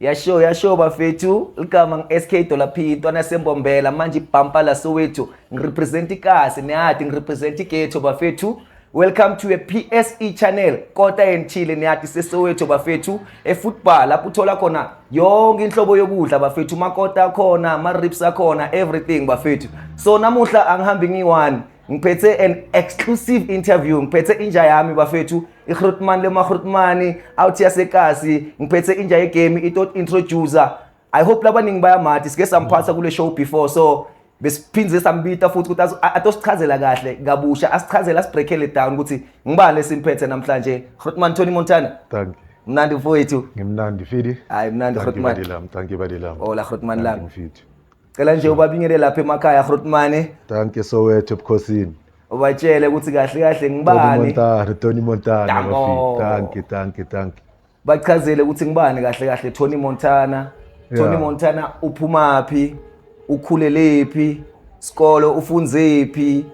yasho yasho bafethu ligama ngi-sk dollar p intwana sembombela manje ibhampa la sowethu ngirepresent ikasi niyadi ngirepresent igeto bafethu welcome to a pse channel kota enithile niyadi sesowethu bafethu efootball lapho uthola khona yonke inhlobo yokudla bafethu makota akhona ama-rips akhona everything bafethu so namuhla angihambi ngiyi-one ngiphethe an exclusive interview ngiphethe inja yami bafethu igrutman lemagrutmani out yasekasi ngiphethe inja yegame itot introducer i hope labaningi bayamathi sike samphatha kule show before so besiphinde sambita futhi ukuthi atosichazela kahle kabusha asichazele asibreakele down ukuthi ngibani esimphethe namhlanje grutman tony montana thank you mnandi mfowethu ngimnandi fidi hayi mnandi grutman thank you badilam ola grutman lami mfidi cela nje ubabingele lapha emakhaya Grootmane danke Soweto ebukhosini ubatshele ukuthi kahle kahle ngibani Montana Tony Montana bafika danke danke danke bachazele ukuthi ngibani kahle kahle Tony Montana Tony Montana uphumaphi ukhulelephi sikolo ufunzephi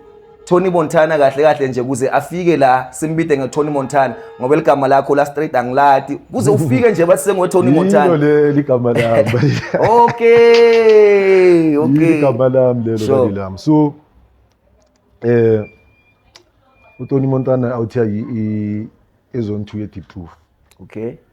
Tony Montana kahle kahle nje kuze afike la simbide nge Tony Montana ngoba ligama lakho la straight angilati kuze ufike nje bathi sengo Tony Montana yilo le ligama lami okay okay ligama lami lelo sure. lami so eh uTony Montana awuthiya i ezone 2 ye deep truth okay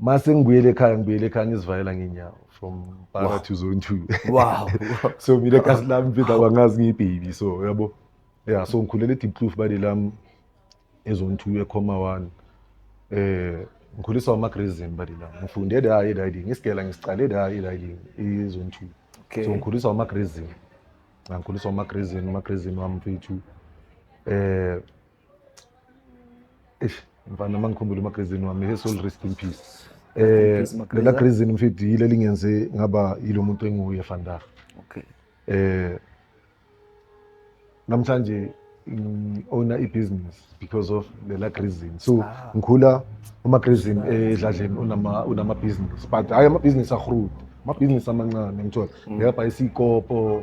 mase ngibuyele ekhaya ngibuyele ekhaya ngizivalela ngenyawo from para to zone two wow so mina kasi lami mfethu abangazi ngiyibhebi so yabo ya so ngikhulele edipkloof bade lami ezone two ekhoma one eh ngikhuliswa amagrazim bade lami ngifunde la eriding isigela ngisiqale la eriding izone two so ngikhuliswa amagrazim ngikhuliswa amagrazim amagrazim wami mfethu eh eish mfana uma ngikhumbula umagazini wami he soul rest in peace eh lela grazini mfethu yile lingenze ngaba yilo muntu enguye vandag okay eh namhlanje owna i-business because of lela grazini so ah. ngikhula umagrazini edladleni unama-business but hhayi ama-business ahrud ama-business amancane ngithola mm. ngeyabhayisa iy'kopo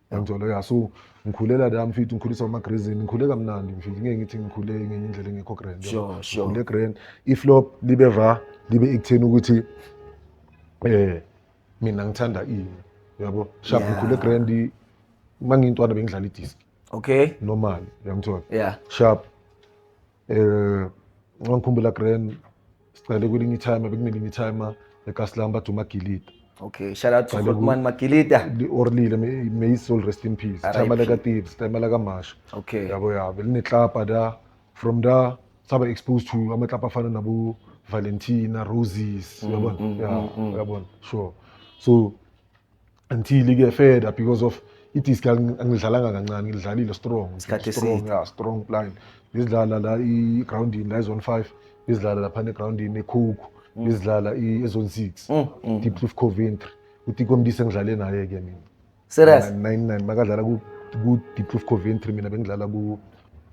Ngangithola ya so ngikhulela la mfethu ngikhuliswa amagrazini ngikhule kamnandi mfethu ngeke ngithi ngikhule ngenye indlela engekho grand Sure, sure. ngikhule grand iflop libe va libe ekutheni ukuthi eh mina ngithanda ini yabo sharp Yeah. ngikhule grand mangintwana bengidlala idisc Okay. normal uyangithola Yeah. sharp um ngangikhumbula grand siqale kwelinye itime bekunelinye itime ekasilami bathi umagilita okay shout out to Hotman Magilita orlile may his soul rest in peace time la ka thieves time la ka masha okay yabo yabo line club da from da saba exposed to ama club afana nabo Valentina Roses mm, yabona mm, yeah mm, yabona sure so until ike further because of idisc angidlalanga kancane ngidlalile strong Isikhathi strong eside. yeah strong plan ngidlala la i-groundini la i-zone five ngidlala laphana egroundini ekhukhu ngidlala i- e-zone six Mm, mm. deep cliff coventry utikomdise engidlale naye-ke mina serious 99 makadlala ku- ku-deep cliff coventry mina bengidlala ku-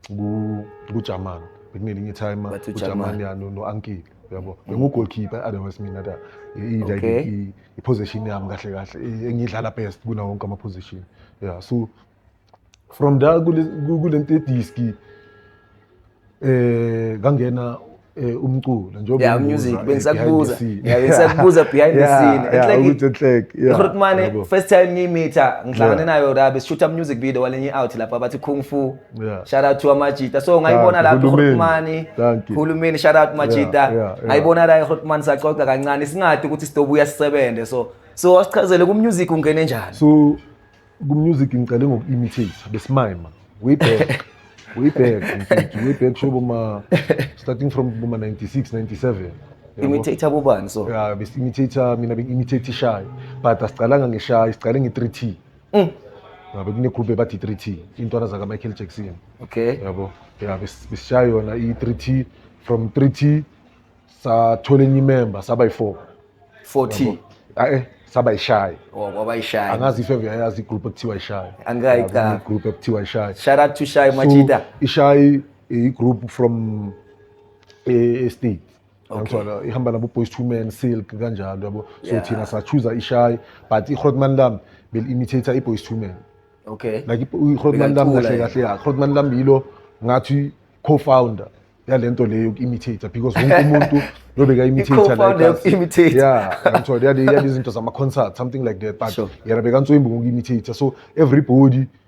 ku- kujaman bekunelinye itime Bathi uJaman. ujaman yani no-ankile uyabo bengugolkeeper otherwise mina da Okay. i- i- iposition yami kahle kahle eh, engidlala best kuna wonke ama position yeah so from da kulento ediski eh kangena eh, umculo njengoba yeah music eh, bengisakubuza yeah bengisakubuza behind the scene it's like ukuthi enhlek yeah Rutmane first time ngimitha ngihlangane nayo rabe sishutha music video walenye out lapha bathi kung fu Yeah. Shout out to Amajita. So ngayibona la kuHulumeni. Hulumeni shout out Majita. Ngayibona la eHulumeni saxoxa kancane singathi ukuthi sidobuya sisebenze. So so wasichazele ku music ungene njani? So ku music ngicele ngoku imitate besimima. Way back. Way back. Way back shobo ma starting from boma 96 97. Imitator bobani so? Yeah, bes imitator mina beng imitator shy. But asiqalanga ngeshayi, siqale nge 3T. Mm. yabo kunegroup ebathi i-three t iy'ntwana zakamichael jackson Okay. yabo ya bes- besishaya yona i-three t from three t sathola enye imemba saba yi-four 40. ae saba yishaye Wa- Wabayishaya. angazi if eve yayazi igroup ekuthiwa ishaye Angikayi Yabo, cha. igroup ekuthiwa ishaye Shout out to Shy Machida. So, ishayi igroup from eh, estate Okay. Yabona ihamba nabo boys to men silk kanjalo yabo. So Yeah. thina sa choose ishayi but iHrotman Lam bel imitator iboys to men. Okay. Like iHrotman Lam Bekalicula kahle yena. kahle ya. Hrotman Lam yilo ngathi co-founder yalento leyo imitator because wonke umuntu lobeka imitator I-co-founder us. yoku-imitator. Yeah, ngithola yale yale izinto zama concert something like that but Sure. yena bekantswembu ngoku imitator so everybody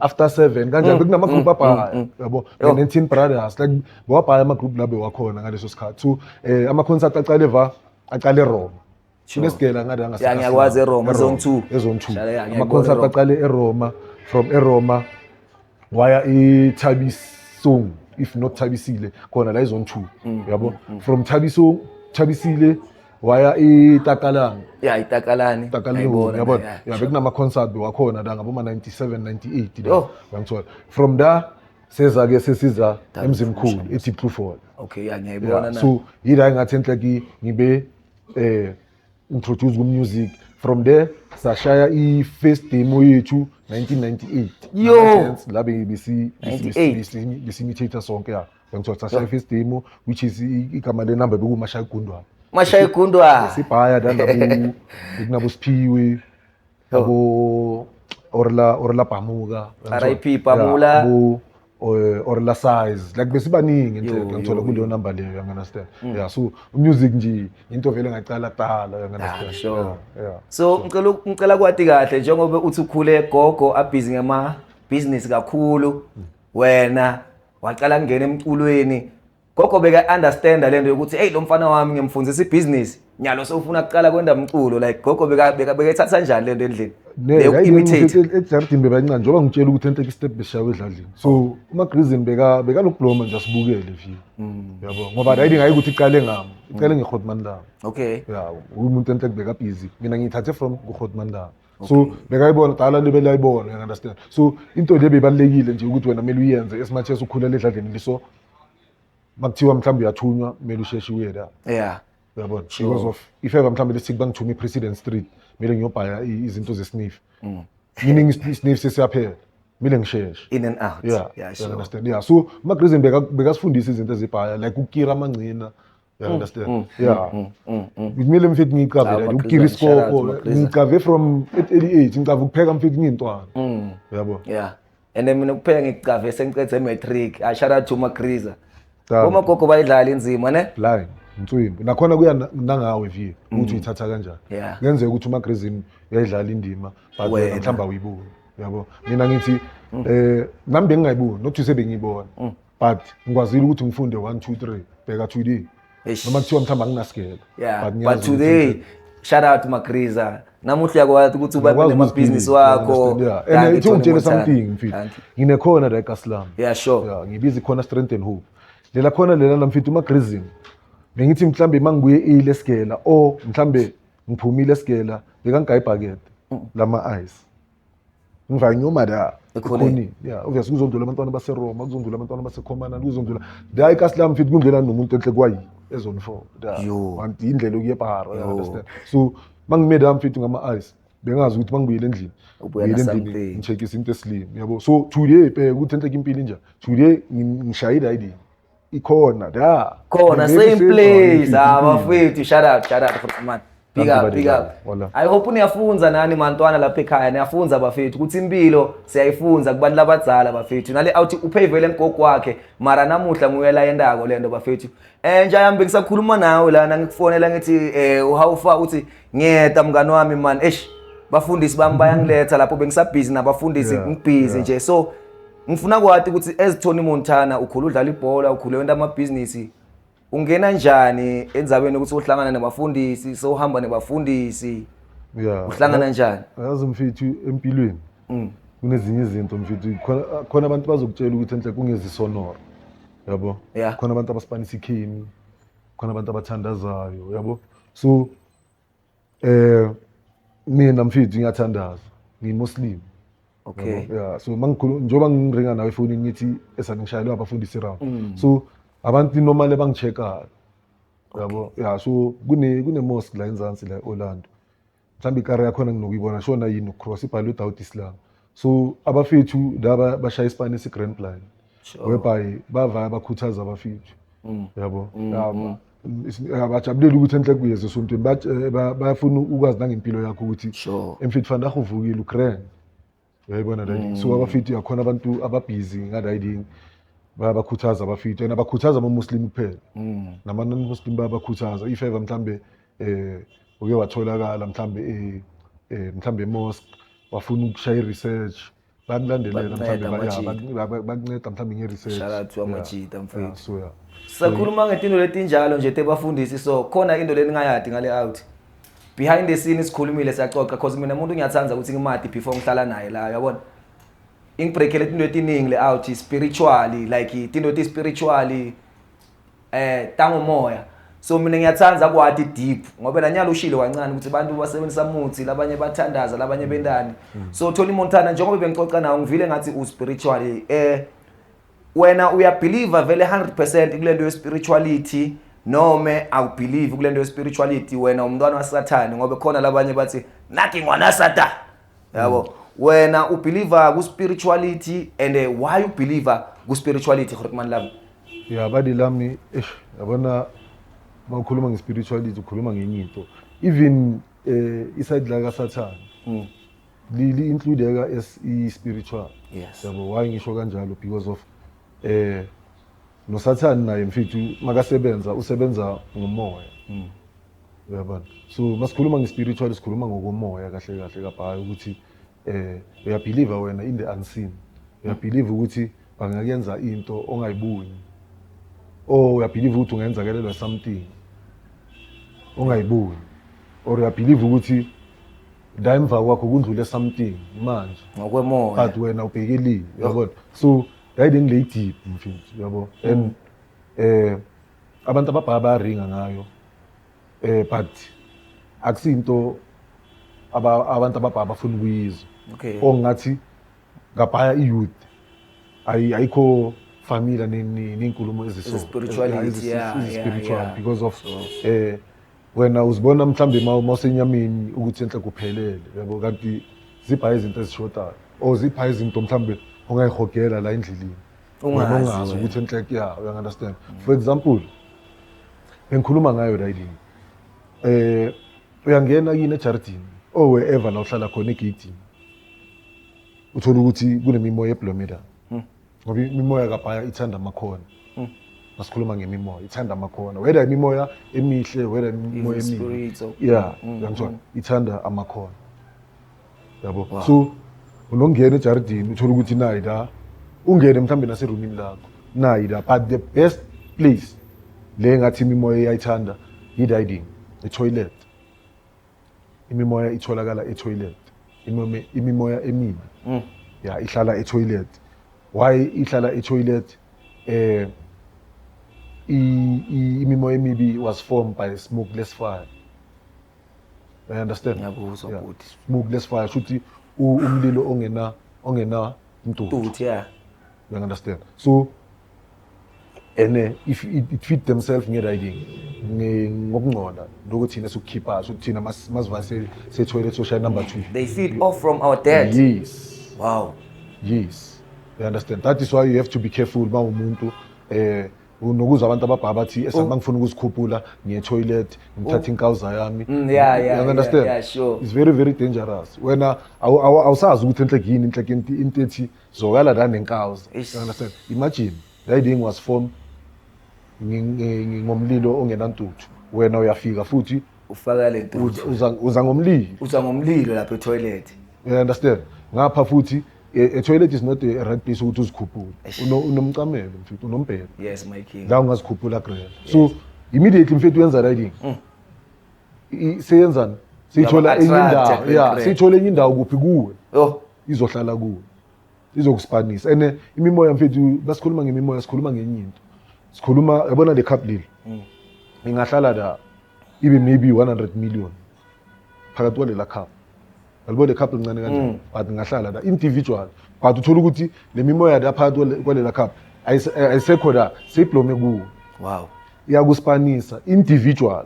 after seven kanjani mm, bekunama-group mm, abhaya mm, yabo ne-nineteen brothers like bewabhaya ama-group la bewakhona ngaleso sikhathi so um ama-concert aqale va aqale eroma sinesigela ngathi angiyakwazi eroma ezone two ezone two ama-concert aqale eroma from eroma waya ithabisong if not thabisile khona la izone two yabo from thabisong thabisile waya itakalani ya itakalani itakalani ngibona yabona ya bekunama concert wakhona la ngaboma 97 98 la uyangithola from there seza ke sesiza emzimkhulu ethi proof hall okay ya ngiyayibona na so yila engathi enhle ki ngibe eh introduce ku music from there sashaya i first demo yethu 1998 yo la besi besi besi imitator sonke ya Ngithiwa cha shaya first demo which is i- igama le number bekumashaya igundwana. Mashaya igundwa. Sibhaya la nabu kunabo Siphiwe abo Orla Orla Pamuka. RIP Pamula. Abo eh, Orla size like besibaningi Yo, nje ngithola yo, kuleyo number leyo you understand. Yeah so music nje into vele ngaqala tala you understand. Ah, sure. Yeah, yeah. So ngicela uk- ngicela kwati kahle njengoba uthi ukhule gogo abhizi ngama business kakhulu wena waqala kungena emculweni gogo beka-understanda le nto yokuthi eyi lo mfana wami ngimfundisa ibhizinisi nyalo sewufuna kuqala kwenda mculo like gogo bekayithatha njani le nto endlini ejaridini bebancane njengoba ngitshela ukuthi enhle kustep beshawe edladlini so umagrizini bekanokubloma nje asibukele view mm. yabo ngoba ride ngayi ukuthi iqale ngami iqale mm. ngehodman lami okay yabo umuntu enhle kubekabhizi mina ngiyithathe from kuhodman lami so okay. bekayibona qala le belayibona you understand so into le beyibalekile nje ukuthi wena mele uyenze as much as ukhulela edladleni liso makuthiwa mhlawumbe uyathunywa mele usheshe uye la yeah uyabona sure. because of if ever mhlawumbe lesithi bangithume president street mele ngiyobhaya izinto zesniff mm. meaning isniff sesiyaphela mile ngisheshe in and out yeah, yeah, sure. understand yeah so magrizen bekasifundisa izinto ezibhaya like ukukira amangcina You mm, understand? Mm, mm, yeah. Mm, mm, mm. Kumele mfethu ngicabe la ngikira isikoko. Ngicabe from 88 ngicabe ukupheka mfethu ngintwana. Mm. Uyabo? Yeah. And then mina kupheka ngicave sengiqede matric. I shout out to Makriza. Uma gogo bayidlala inzima ne? Blind. Mtswimbi. Nakhona kuya nangawe view ukuthi uyithatha kanjani. Ngenzeka ukuthi uMagrizini uyayidlala indima but mhlamba uyibuka. Uyabo? Mina ngithi eh nami bengingayiboni, not to say bengiyibona. but ngikwazile ukuthi ngifunde 1 2 3 bheka today Eish. noma kuthiwa mhlawumbe anginasigelo yeah but, ngiyazi ukuthi today shout out magriza namuhla uyakwazi ukuthi ubabe ngiyakwazi nemabhizinisi ukuziphiza, wakho you understand? Yeah. Thank and you, ithi Tony ungitshele Montana. something mfethu Thank you. nginekhona la ekasilami yeah sure ya ngibiza ikhona strength and hope lela khona lena la mfethu umagrizim bengithi mhlambe uma ngibuye ile sigela o mhlambe ngiphumile sigela bekangigaye ibhakede lama-ice ngivanye omada ekhoneni ya obviously kuzondlula abantwana baseroma kuzondlula abantwana basekhomanani kuzondlula hayi kasilami fithi kungena nomuntu enhle kwayi ezone four kanti yindlela okuye ebhara understand so mangimede ami fithi ngama-ice bengazi ukuthi mangibuyele endlini buyele endlini ngishekise into esilimi yabo so today bheka ukuthi enhleke impilo injani today ngishayile ayidini ikhona da khona same place ah bafethu shout out shout out for man big up big up i hope niyafunza nani mantwana lapha ekhaya niyafunza bafethu ukuthi impilo siyayifunza kubantu labadzala bafethu nale awuthi uphayivele ngogogo wakhe mara namuhla nguye la yendako lento bafethu eh nje ayambe ngisakhuluma nawe lana ngikufonela ngithi eh how far uthi ngiyeda mngani wami man eish bafundisi bami bayangiletha lapho bengisabhizi nabafundisi ngibhizi nje so Ngifuna kwati ukuthi as Tony Montana ukhulu udlala ibhola, ukhule wenta amabhizinisi. Ungena njani endzabeni ukuthi uhlangana nabafundisi, sewuhamba nebafundisi? Yeah. Uhlangana njani? Yazi mfethu empilweni Mm. kunezinye izinto mfethu khona khona abantu bazokutshela ukuthi enhle kungezisonora. Yabo? Yeah. Khona abantu abasipanisa ikhemi. Khona abantu abathandazayo, yabo? So Eh mina mfethu ngiyathandaza, ngimuslim. Okay. Yeah, so mangikhuluma njengoba ngiringa nawe ifoni ngithi esangishayelwa abafundisi round. Mm. So abantu normally bangicheckayo. Yabo. Yeah, so kune kune mosque la eNzansi la eOrlando. Mhlawumbe ikari yakhona nginokuyibona shona yini cross ibhalwe without Islam. so abafethu laba bashaya isipani esi-grand plan whereby bavaya bakhuthaza abafethu mm. yabo mm, mm. abajabulela ukuthi enhle kuyeza esontweni eh, bayafuna ukwazi nangempilo yakho ukuthi emfethu fanele ahuvukile ugrand uyayibona riding so abafethu yakhona abantu ababhizi nga-riding bayabakhuthaza abafethu and abakhuthaza amamuslim kuphela nama-non-muslim bayabakhuthaza if ever mhlawumbe eh uke watholakala mhlambe eh, eh mhlambe mosque wafuna ukushaya i-research bakulandelela mhlambe bakunceda mhlambe nge-research shout out to amajita mfethu so yeah sakhuluma ngetinto letinjalo nje tebafundisi so khona into leningayadi ngale out behind the scene sikhulumile siyaxoxa cause mina umuntu ngiyathanda ukuthi ngimadi before ngihlala naye la uyabona ingibreakele izinto etiningi le out spiritually like izinto ti spiritually eh tangomoya so mina ngiyathanda kwadi deep ngoba nanyalo ushile kancane ukuthi abantu basebenzisa muthi labanye bathandaza labanye mm. bendani mm. so Tony Montana njengoba bengixoxa nawo ngivile ngathi u spiritually eh wena uya believer vele 100% kulento ye spirituality nome awubelieve kulento ye spirituality wena umntwana wasathane ngoba khona labanye bathi nothing wana satan yabo mm. wena ubeliever ku spirituality and eh, why you believer ku spirituality gore man lami ya badi lami eish yabona mawukhuluma nge spirituality ukhuluma ngenye into even eh iside la ka satan mm. li li includeka as i spiritual yes yabo why ngisho kanjalo because of eh nosathane naye mfethu makasebenza usebenza ngomoya mm. uyabona so masikhuluma nge-spiritual sikhuluma ngokomoya kahle kahle kabhayi ukuthi eh uyabhiliva wena in the unseen uyabhiliva ukuthi bangakuyenza into ongayiboni or uyabhiliva ukuthi ungenzakelelwa something ongayiboni or uyabhiliva ukuthi la emva kwakho kundlule something manje ngokwemoya but wena ubhekelile uyabona so Yayide ngile deep mfethu yabo and eh abantu ababhaya bayaringa ngayo eh but akusinto aba abantu ababhaya bafuna ukuyizwa Okay. ongathi ngabhaya i-youth ayi- ayikho familia ney'nkulumo Spirituality, yeah, yeah, spiritual yeah. because of eh wena uzibona mhlawumbe uma usenyameni ukuthi enhle kuphelele yabo kanti zipha izinto ezishodayo or zipha izinto mhlawumbe ongayihogela la endleleni ungazi ukuthi enhle kuya uyangunderstand for example bengikhuluma ngayo la yini eh uyangena yini ejardini or wherever la uhlala khona egeyidini uthola ukuthi kunemimoya eblomeda ngoba imimoya kabhaya ithanda amakhona mm. masikhuluma ngemimoya ithanda amakhona whether imimoya emihle whether imimoya emibi yeah mm, uyangithola mm. ithanda amakhona yabo so unongena ejaridini uthole ukuthi nayi la ungene mhlawumbe naserumini lakho nayi la but the best place le ngathi imimoya iyayithanda yi-riding etoilet imimoya itholakala etoilet imome imimoya emibi Mm. ya ihlala etoilet why ihlala etoilet eh i- i- imimoya emibi was formed by smokeless fire i understand Ngiyakuzwa, Yeah. bhuti. smokeless fire shuthi u- umlilo ongena ongena mdudu Dude, yeah. You understand? So and uh, if it, it fit themselves nge-riding ngokungcola lokho thina sikukhipha so thina masiva sethwele social number two they feed off from our dead yes wow yes you understand that is why you have to be careful uba umuntu eh nokuzwa abantu ababhaba bathi esami oh. ngifuna ukuzikhuphula ngiye toilet ngithatha oh. inkawuza yami mm, yeah yeah you understand yeah, yeah, sure it's very very dangerous wena awusazi ukuthi enhlekini inhlekenti into ethi Zwakala nami inkaws. Eish. You understand? Imagine riding was formed ngi- ngi- ngi- ngomlilo ongenantuthu. Wena uyafika futhi ufaka le nto uza- uza uza ngomlilo. uza ngomlilo lapha etoilet You understand? Ngapha futhi a, a toilet is not a right place ukuthi uzikhuphule. Eish. Uno unomcamelo mfethu unombhelo. yes my king La ungazikhuphula grela. So immediately mfethu yenza riding. I- Seyenzani? Siyithola enye Uyaba-attract indawo. kweli Yeah, grela. siyithola enye indawo kuphi kuwe. oh izohlala kuwe izokusipanisa and eh, imimoya mfethu basikhuluma ngemimoya sikhuluma ngenye into sikhuluma yabona le cup leli mm. ingahlala la ibe maybe 100 million phakathi kwalela cup yalibo le cup lincane kanjani mm. but ingahlala la individual but uthola ukuthi le mimoya la phakathi kwalela cup ayisekho la seyiblome kuwo wow iyakusipanisa individual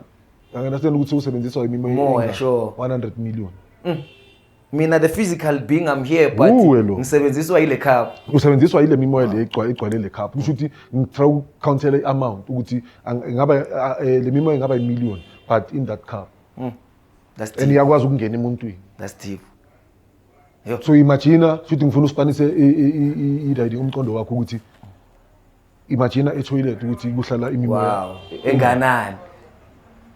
angenasitshela ukuthi usebenziswa imimoya 100 million mm. mina the physical being i'm here but Uwe lo. ngisebenziswa yile cup usebenziswa yile mimoya le igcwa- igcwale le cup kusho ukuthi ngitry ukucountela i-amount ukuthi ang- ingaba a- eh, le mimoya ingaba imillion but in that cup that's and deep iyakwazi ukungena emuntwini that's deep so imagina futhi ngifuna usipanise i- i- i- i- i- umqondo wakho ukuthi imagine etoilet ukuthi kuhlala imimoya wow. enganani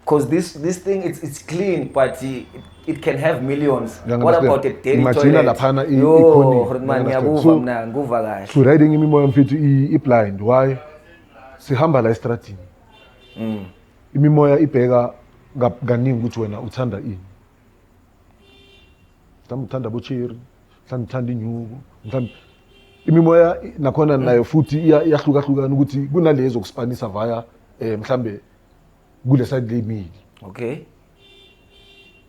because this this thing it's, it's clean but it, it can have millions yeah, what about a daily imagine laphana ikhoniyakuva mna nguva kahle to riding imimoya mfethu i-blind why sihamba la estradini mm. imimoya ibheka kaningi ukuthi wena uthanda ini mhlawumbe uthanda abocheri mhlawumbe uthanda inyuku mhlawumbe imimoya nakhona nayo futhi iyahlukahlukana ukuthi kunalezo kusipanisa via um mhlawumbe kule side lemili okay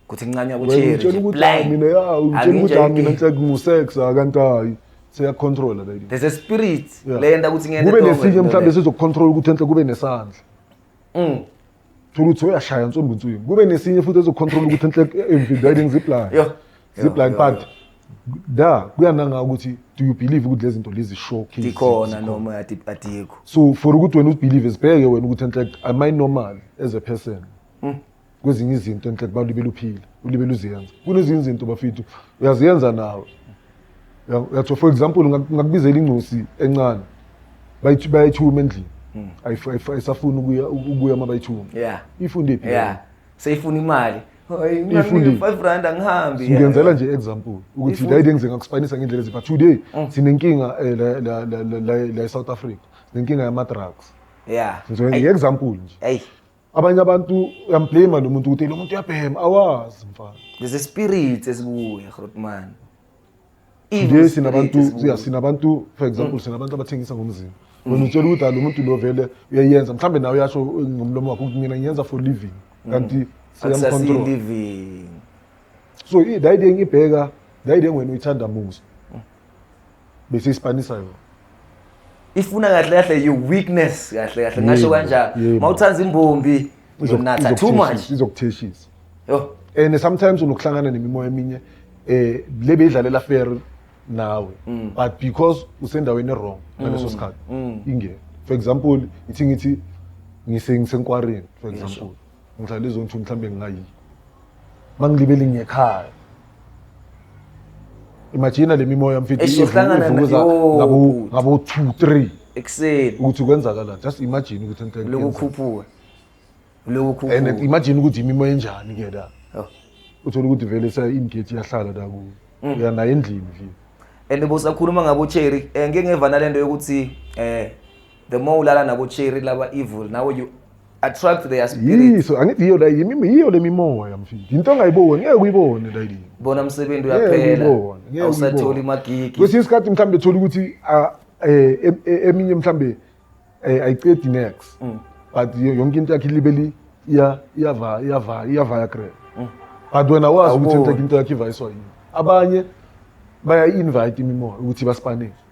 kuthi ngincanywa kucheri mina ya utshela ukuthi hayi mina nhlek ngusex akanti hayi seyakucontrola lady there's a spirit leyenda ukuthi ngene kube nesinye mhlawumbe sizokucontrola ukuthi enhle kube nesandla mm thola ukuthi uyashaya nsumbu nswini kube nesinye futhi ezocontrol ukuthi enhle emvimbi riding zip line Yo. zip line but da kuyananga ukuthi do you believe ukuthi lezi zinto lezi show cases Ikhona zikhona? noma adi- adikho. so for ukuthi wena ubelieve zibheke wena ukuthi enhle am i normal as a person kwezinye izinto enhle kubantu libeluphila ulibele uziyenza kunezinye izinto bafethu uyaziyenza nawe yatho for example ngakubizela ingcosi encane bayayithuma endlini hmm. ayisafuni ukuya uma bayithuma ifunde phi seyifuna imali ngenzela nje example ukuthi la into engizeka kuspinisa ngendlela ezipha today mm. sinenkinga eh, la la la la South Africa nenkinga yama drugs yeah ngizoyenza example nje abanye abantu uyamblame lo muntu ukuthi lo muntu uyabhema awazi mfana there's a spirit esibuye grotman nje sinabantu yeah sinabantu for example mm. sinabantu abathengisa ngomzimba wena mm. utshela ukuthi lo muntu lo vele uyayenza mhlambe nawe uyasho ngomlomo wakho ukuthi mina ngiyenza for living mm. kanti siyamcontrol living so i dayide ngibheka dayide ngwena uyithanda musa bese ispanisa yona ifuna kahle kahle your weakness kahle kahle ngasho Yebo, kanjalo yebo. mawuthanda imbombi uzonatha too much izokutheshisa yo and sometimes unokuhlangana nemimoya eminye eh le beyidlalela fair nawe Mm. but because usendaweni wrong ngaleso sikhathi ingene for example ithi ngithi ngise ngisenkwareni for example Ngihlala lezo nto mhlawumbe ngingayi. Mangilibele ngiyekhaya. Imagine le mimoya mfethu Eish, uhlangana na- ivuza yo. ngabo ngabo 2 3 ekuseni ukuthi kwenzakalani. Just imagine ukuthi into uloku enhle. ukhuphuka uloku And ukhuphuka imagine ukuthi imimoya enjani ke la. Oh. Uthola ukuthi vele sa ingate iyahlala la ku. Mm. Uya naye endlini nje. and bosakhuluma ngabo cherry eh, ngike ngevana lento yokuthi eh the more ulala nabo cherry laba evil now you attract their spirit yiso angithi yiyo la yimi yiyo lemimoya mfini into ongayiboni ngeke uyibone la yini bona umsebenzi uyaphela awusatholi magigi kwesinye isikhathi mhlambe thola ukuthi eh, e, e, eminye mhlambe eh, ayiqedi next mm. but yonke into yakhe libeli iya iyava iyava iyava yakre mm. but wena wazi ukuthi into yakhe iva iswa yini abanye baya invite imimoya ukuthi basipanele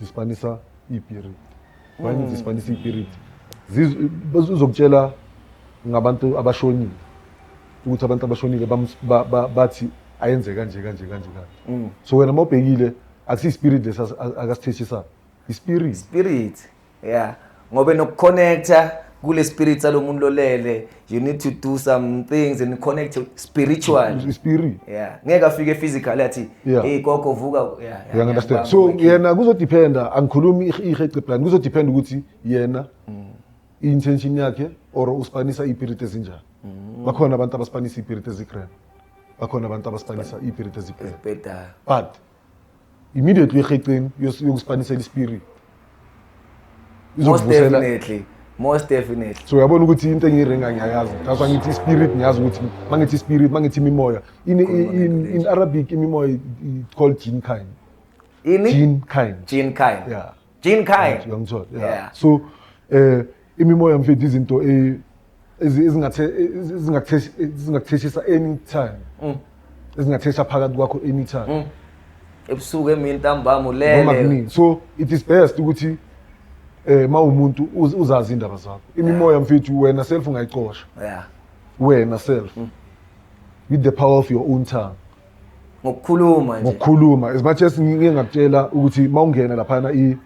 dispanisa ipirit why mm. dispanisa ipirit uzokutshela ngabantu abashonile ukuthi abantu abashonile bathi ayenze kanje kanje kanje kanje mm. so wena uma ubhekile akusiyispirit lesi akasithethisayo ispirit spirit yeah ngobe nokuconnecta kule spirit salomuntu lolele you need to do some things and connect spiritual spirit yeah ngeke afike physical athi yeah. hey gogo vuka yeah, yeah, understand so yena kuzodependa angikhulumi ihece plan kuzodependa ukuthi yena mm. intention yakhe or uspanisa ipirit ezinjani mm. bakhona abantu abaspanisa ipirit ezigrand bakhona abantu abaspanisa ipirit ezigrand but immediately eheceni yokusipanisela ispirit izokuvusela most definitely so uyabona ukuthi into engiyirenga ngiyayazi that's why ngithi spirit ngiyazi ukuthi mangithi spirit mangithi imimoya in, in, in arabic imimoya called jin kind ini jin kind jin kind yeah Jean Kai. Right, uyangithola. Yeah. Yeah. So eh imimoya mfethu izinto eh ezi- ezingathe ezi- ezingakuthesh- ezingakutheshisa anytime. Mm. Ezingathesha phakathi kwakho anytime. Ebusuku emini ntambama Noma ulele. kuningi. So it is best ukuthi eh mawumuntu uz- uzazi indaba zakho. Imimoya mfethu wena self ungayicosha. Yeah. wena self with the power of your own tongue ngokukhuluma nje ngokukhuluma as much as ngike ngakutshela ukuthi mawungena laphana i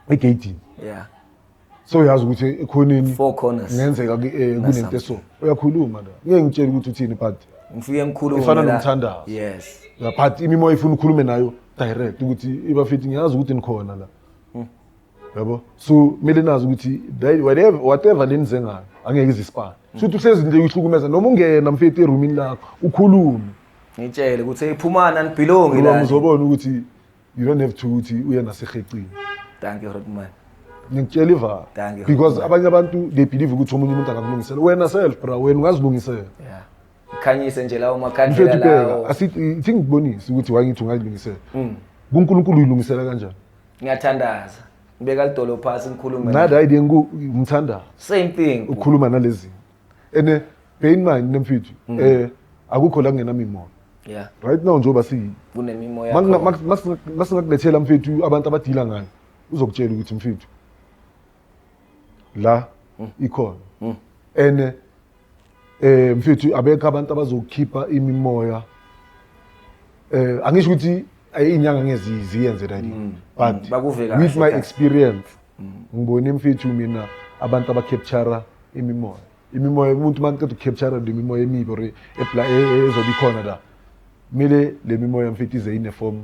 egate yeah so yazi ukuthi ekhoneni four corners ngenzeka eh, kunento eso uyakhuluma la ngeke ngitshele ukuthi uthini but ngifike ngikhulume ifana nomthandazo yes la but imimoya ifuna ukhulume nayo direct ukuthi ibafithi ngiyazi ukuthi nikhona la yabo so kumele nazi ukuthi whatever whatever lenize ngayo angeke izisipane futhi uhlezi nje uyihlukumeza noma ungena mfethu erumini lakho ukhulume ngitshele ukuthi eyiphumana nibhilongi la ngizobona ukuthi you don't have to ukuthi uye nasehecini thank you rodman ngikutshela ivalo because abanye abantu they believe ukuthi omunye umuntu angakulungisela wena self bra wena ungazilungisela yeah khanyise nje lawo makhandlela lawo asithi ngikubonise ukuthi wangithi ungayilungisela mm. kuNkulunkulu uyilungisela kanjani ngiyathandaza ngibeka lidolo phasi ngikhulume naye. Nada idea ngu ngithanda same thing ukukhuluma nalezi. Ene bear in mind nemfithu mm. eh akukho la kungena mimoya. Yeah. Right now njengoba si kunemimoya. Masingakulethela mfethu abantu abadila ngayo uzokutshela ukuthi mfethu la mm. ikhona mm. ene eh mfethu abekho abantu abazokhipha imimoya eh angisho ukuthi inyanga ngezi ziyenze that mm. but bakuveka with my experience ngibone mfethu mina abantu abacapture imimoya imimoya umuntu maqeda ucapture imimoya emibi or ezobikhona la kumele le mimoya mfethu ize ine form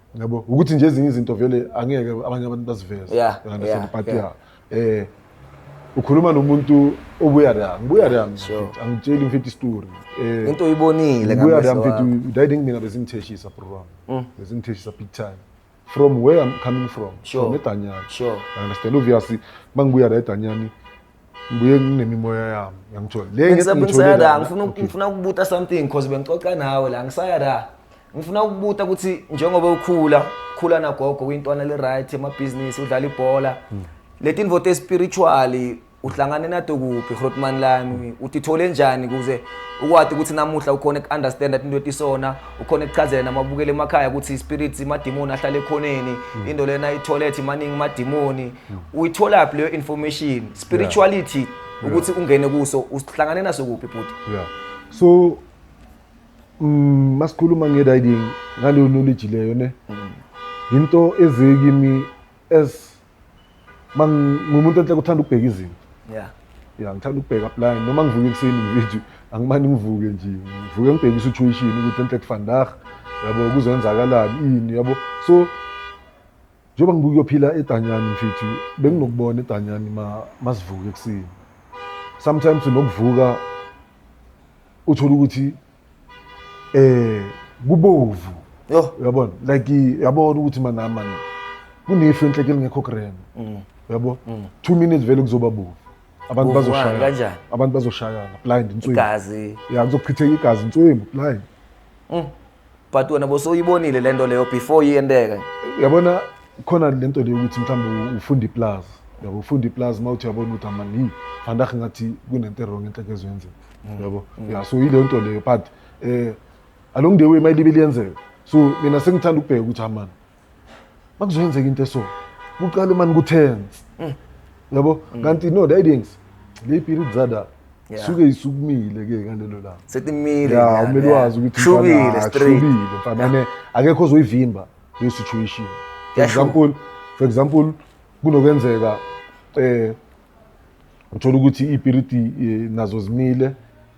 yabo ukuthi nje ezinye izinto vele angeke abanye abantu baziveze yeah, yeah, but yeah. yeah eh ukhuluma nomuntu obuya la ngibuya la angitsheli mfethu istory eh into uyibonile ngibuya la mfethu udayide mina bezingitheshisa bro wami mm. bezingitheshisa big time from where i'm coming from sure. from edanyani sure understand obviously mangibuya la edanyani ngibuye nginemimoya yami yangithola le Bengisab- ngiyithole ngisaya la la. ngifuna Okay. ngifuna ukubuta something because bengixoxa nawe la ngisaya la ngifuna ukubuta ukuthi njengoba ukhula khula nagogo uyintwana le right emabhizinisi udlala ibhola Hmm. letinvo te spiritual uhlangane nato kuphi Grootman lami utithole njani kuze ukwati ukuthi namuhla ukhona ku understand into etisona ukhona kuchazela namabukele emakhaya ukuthi spirits imadimoni ahlale ekhoneni into lena itholethi maningi imadimoni uyitholaphi leyo information spirituality ukuthi ungene kuso usihlangane naso kuphi bhuti yeah so mm, masikhuluma nge-riding ngaleyo knowledge leyo ne yinto eze kimi as ma ngumuntu enhle kuthanda ukubheka izinto yeah ya ngithanda ukubheka plan noma ngivuke ekuseni ngithi angimane ngivuke nje ngivuke ngibheke i-situation ukuthi enhle kufandag yabo kuzenzakalani ini yabo so njengoba ngibuke uyophila edanyani mfethu benginokubona edanyani masivuke ekuseni sometimes unokuvuka uthole ukuthi eh kubovu yo uyabona like yabona ukuthi manami mani kunefu enhleke lingekho grand mm. uyabo 2 mm. minutes vele kuzoba bovu abantu bazoshaya kanjani abantu bazoshayana blind inswimbu igazi ya kuzochitheka igazi inswimbu blind mm. but wena bosoyibonile le nto leyo before iyenteke yabona khona le nto leyo ukuthi mhlawumbe ufunda iplazi yabo ufunda iplazi uma uthi uyabona ukuthi amani vandag ngathi kunento erong enhleke ezwenzeka mm. yabo mm. ya so yileyo nto leyo but um along the way mayilibe liyenzeka so mina sengithanda ukubheka ukuthi amani makuzoyenzeka into eso kuqale mani kutense mm. yabo mm. kanti no tidings le period zada suke isukumile ke ngalelo langa setimile ya umele wazi ukuthi shubile straight fanele akekho ozoyivimba le situation for example for example kunokwenzeka eh uthola ukuthi ipiriti eh, nazo zimile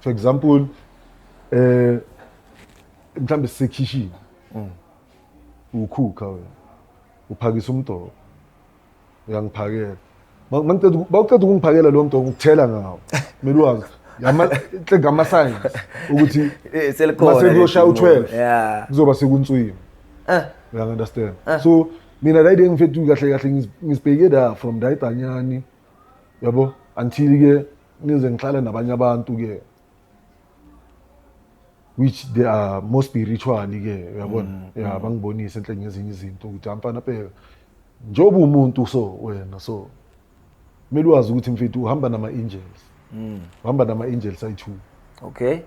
for example eh mhlambe sisekhishini mm. ukhukha wena uphakisa umdoko uyangiphakela mangicela bawucela ukungiphakela lo mdoko ngikuthela ngawo kumele wazi yamahle ngama science ukuthi eh, selikhona mase kuyoshaya u12 kuzoba sekunswini eh uya understand eh. so mina right engifethu kahle kahle ngizibheke da from dayitanyani yabo until ke ngize ngihlale nabanye abantu ke which they are more spiritually ke uyabona mm, ya mm. bangibonise enhle ngezinye izinto ukuthi amfana phela njengoba umuntu so wena so kumele wazi ukuthi mfethu uhamba nama angels mm. uhamba nama angels ayi2 okay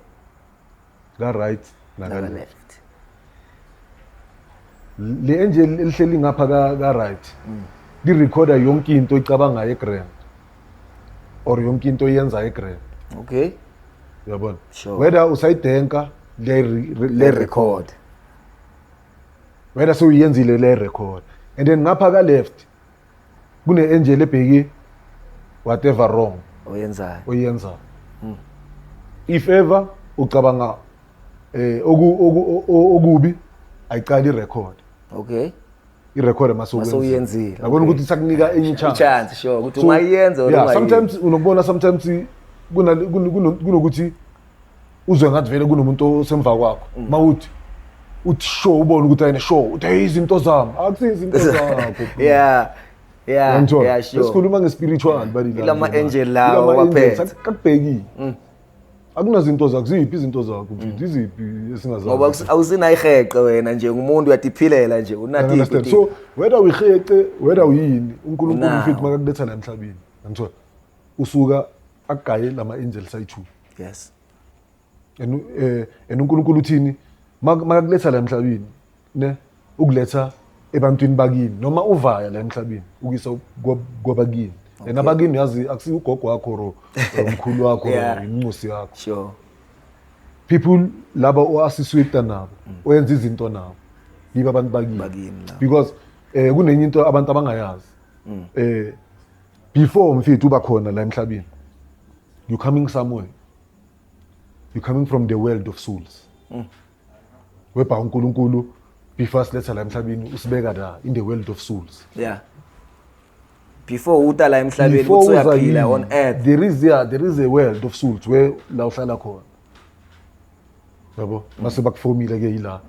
ka right naka left le enje lihleli ngapha ka ka right mm. li recorder yonke into icabanga e grand or yonke into yenza e grand okay uyabona sure. whether usayidenka le le record wena sewuyenzile le record and then ngapha ka left kune-angel ebheki whatever wrong oyenzayo oyenzayo hmm. if ever ucabanga eh okubi ayiqali record okay irecord masewuyenzile yabona ukuthi sakunika enye chance chance sure ukuthi ungayenza or ungayenza sometimes unokubona sometimes kunokuthi uzwe ngathi vele kunomuntu osemva kwakho mm. mawuthi uthi sho ubone ukuthi ayine sho uthi hey izinto zami akusizi izinto zakho yeah yeah yeah sure sikhuluma ngespiritual bali la lama angel lawo baphethe akubhekile mm. akunazinto zakho ziphi izinto zakho mfethu mm. iziphi esingazazi ngoba awusinayiheqe wena nje ngumuntu uyadiphilela nje unati so whether uyiheqe whether uyini uNkulunkulu mfethu makakuletha la emhlabeni ngithola usuka agaye lama angels ayi2 yes and eh and uNkulunkulu uthini makakuletha la emhlabeni ne ukuletha ebantwini bakini noma uvaya la emhlabeni ukuyisa kwabakini okay. and abakini yazi akusiyo ugogo wakho ro umkhulu wakho yeah. inxusi yakho sure people laba oasiswita nabo mm. oyenza izinto nabo yiba abantu bakini because eh kunenye into abantu abangayazi mm. eh before mfethu uba khona la emhlabeni you're coming somewhere you're coming from the world of souls mm. webha unkulunkulu before asiletha la emhlabeni usibeka la in the world of souls yeah before uta la emhlabeni ukuthi uyaphila on earth there is yeah there is a world of souls where la uhlala khona yabo mase bakufomile ke yila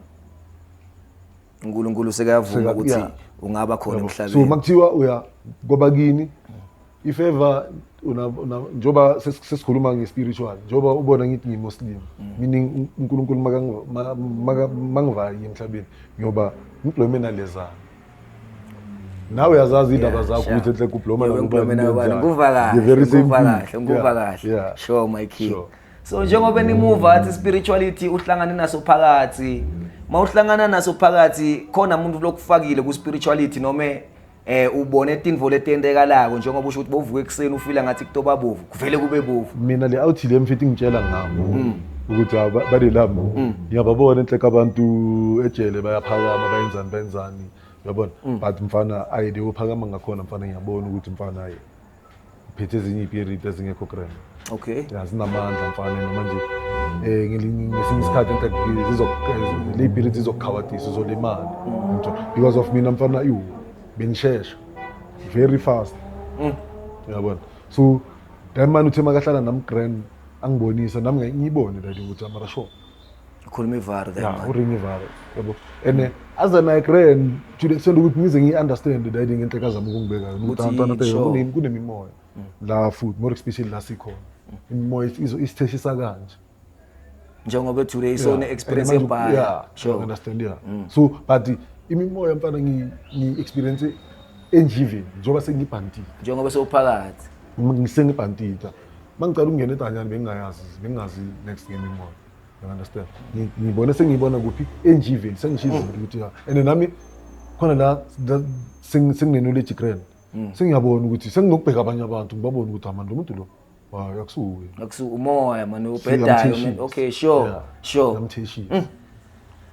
uNkulunkulu sekayavuma Seka- ukuthi yeah. ungaba khona Yabo. so emhlabeni makuthiwa uya koba kini ifeva una- una- njengoba ses- sesikhuluma nge-spiritual njengoba ubona ngithi ngimuslim meaning un- unkulunkulu makangi- ma- maka- mangivayi emhlabeni ngiyoba ngibhlome nalezana nawe uyazazi iy'ndaba Yeah, zakho sure. ukuthi enhle kubloma Yebo, ngikublome nawe bani, ngikuva kahle, ngikuva kahle, ngikuva kahle. Sure, my king. so njengoba nimuva athi spirituality uhlangane naso phakathi mawuhlangana naso phakathi khona umuntu lokufakile ku spirituality noma eh ubone tinvo letentekalako njengoba usho ukuthi bovuka ekuseni ufila ngathi kutoba bovu kuvele kube bovu mina le awuthi le mfethu ngitshela ngabo mm. ukuthi balelabo mm. ngiyababona enhleka abantu ejele bayaphakama bayenzani bayenzani uyabona mm. but mfana ayi leyo phakama ngakhona mfana ngiyabona ukuthi mfana ayi phethe ezinye ipiriti ezingekho grand okay ya zinamandla mfana noma nje eh ngelinye ngesinye isikhathi enkathi zizokuqeza lipiriti zizokukhawathisa uzolimala ngitho because of mina mfana iwu bengishesha very fast Mm. yabona so that man uthe makahlala nam grand angibonisa nami ngiyibone that ukuthi amarasho ukhuluma ivaru then ya manje. uring ivalo yabo and eh, as an igran today sendukuthi ngize ngiyi-understand that ngenhle kazama ukungibeka yona Ukuthi Uthanda- uthanda- yitsho. kune- kunemimoya la futhi more especially la sikhona imimoya izo- isitheshisa kanje njengoba today Yeah. isone And experience manje- ebhaya yeah, I sure understand yeah so but imimoya mfana ngi- ngi-experience enjiveni njengoba sengibhantile njengoba sewuphakathi Uma ngisengibhantile Mangicela ukungena eDanyani bengingayazi bengingazi next game inqola. You understand? Ngi- Ngibone sengiyibona kuphi enjiveni sengishiza izinto ukuthi ha. And nami khona la la- seng- sengingenule eJikreni. Sengiyabona ukuthi senginokubheka abanye abantu ngibabone ukuthi amani lo muntu lo. Hayi akusuwe. Akusu umoya mani ubhedayo man. Okay, sure. Sure. Yamtheshisa.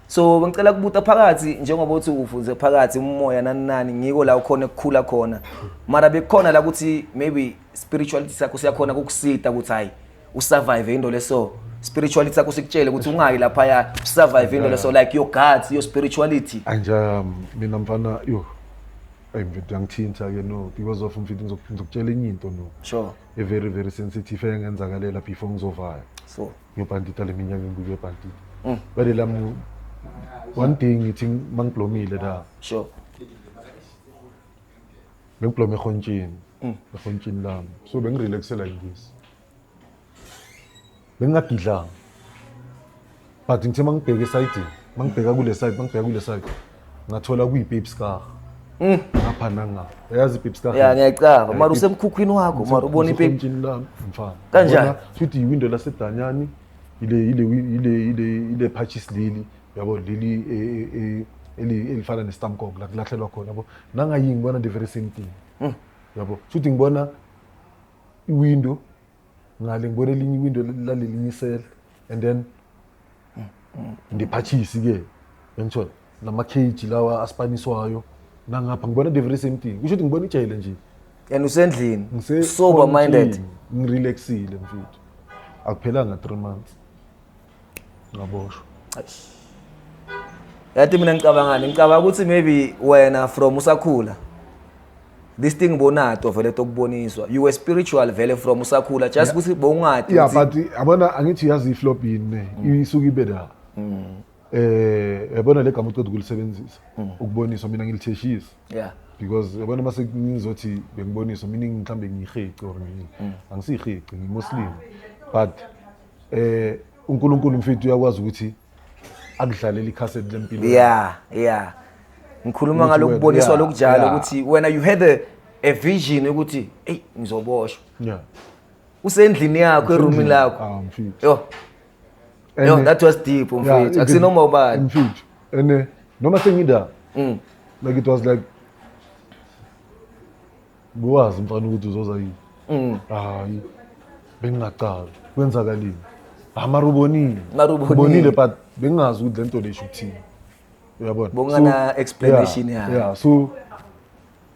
so bengicela kubuta phakathi njengoba uthi ufunze phakathi umoya nani nani ngiko la ukhona ekukhula khona mara bekukhona la ukuthi maybe spirituality sakho siyakhona kukusita ukuthi hayi usurvive into leso spirituality sakho sikutshele ukuthi ungayi lapha ya usurvive into leso like your guts your spirituality anje um, mina mfana yo ayi mfethu yangithinta ke no because of mfethu ngizokutshela enye into no sure a very very sensitive engenzakalela before ngizovaya so ngebhanditi ale minyaka engibuye ebhanditi Mm. bade lami one day ngithi mangiblomile la sure bengiblome ehontshini Mm. ehontshini lami so bengirelaxela ingisi bengingadidlanga but ngithe mangibheke esayidini mangibheka kule side mangibheka kule side ngathola kuyipeepskar mm. ngapha nangapha uyazi ipeepskar ya ngiyacava mara usemkhukhwini wakho mara ubona ipeepmfana kanjani futhi yiwindo lasedanyani ile ile ile ile ile patches leli yabo leli e, e, e, elifana nestamkong la kulahlelwa khona yabo nangayingi ngibona the very same thing mm. yabo futhi ngibona iwindow ngale ngibona elinye iwindo lalelinye isele and then ndiphathisi ke yangithola namakeji lawa asipaniswayo nangapha ngibona the very same thing kusho ukuthi ngibona ijele nje and usendlini Ngise- sober minded ngirelaxile mfethu akuphelanga three months ngaboshwa yathi mina ngicabangani ngicabanga ukuthi maybe wena from usakhula this thing bonato vele tokuboniswa you were spiritual vele from usakhula just ukuthi bowungadi yeah but abona angithi yazi iflop yini mm. isuke ibe la mm. eh yabona le gama uqeda ukulisebenzisa mm. ukuboniswa mina ngilitheshisa yeah because yabona mase ngizothi bengiboniswa mina mhlawumbe ngiyiheci or ngiyini angisiyihici ngimuslim but Eh uNkulunkulu mfethu uyakwazi ukuthi akudlalele ikhaseti lempilo. Yeah, yeah. Ngikhuluma ngalokuboniswa lokujala ukuthi wena you had a, a vision ukuthi hey ngizoboshwa. Yeah. Usendlini yakho eroomini lakho. Ah mfethu. Yo. Yo that was deep mfethu. Akusinoma ubani. Mfethu. Ene noma sengida. Mm. Like it was like Ubewazi mfana ukuthi uzoza yini? Mm. Hayi. Bengingacazi. Kwenzakalini? Hayi mara ubonile. Mara ubonile. Ubonile but bengingazi ukuthi lento lesho ukuthini. Uyabona? Bongana explanation ya. Yeah, so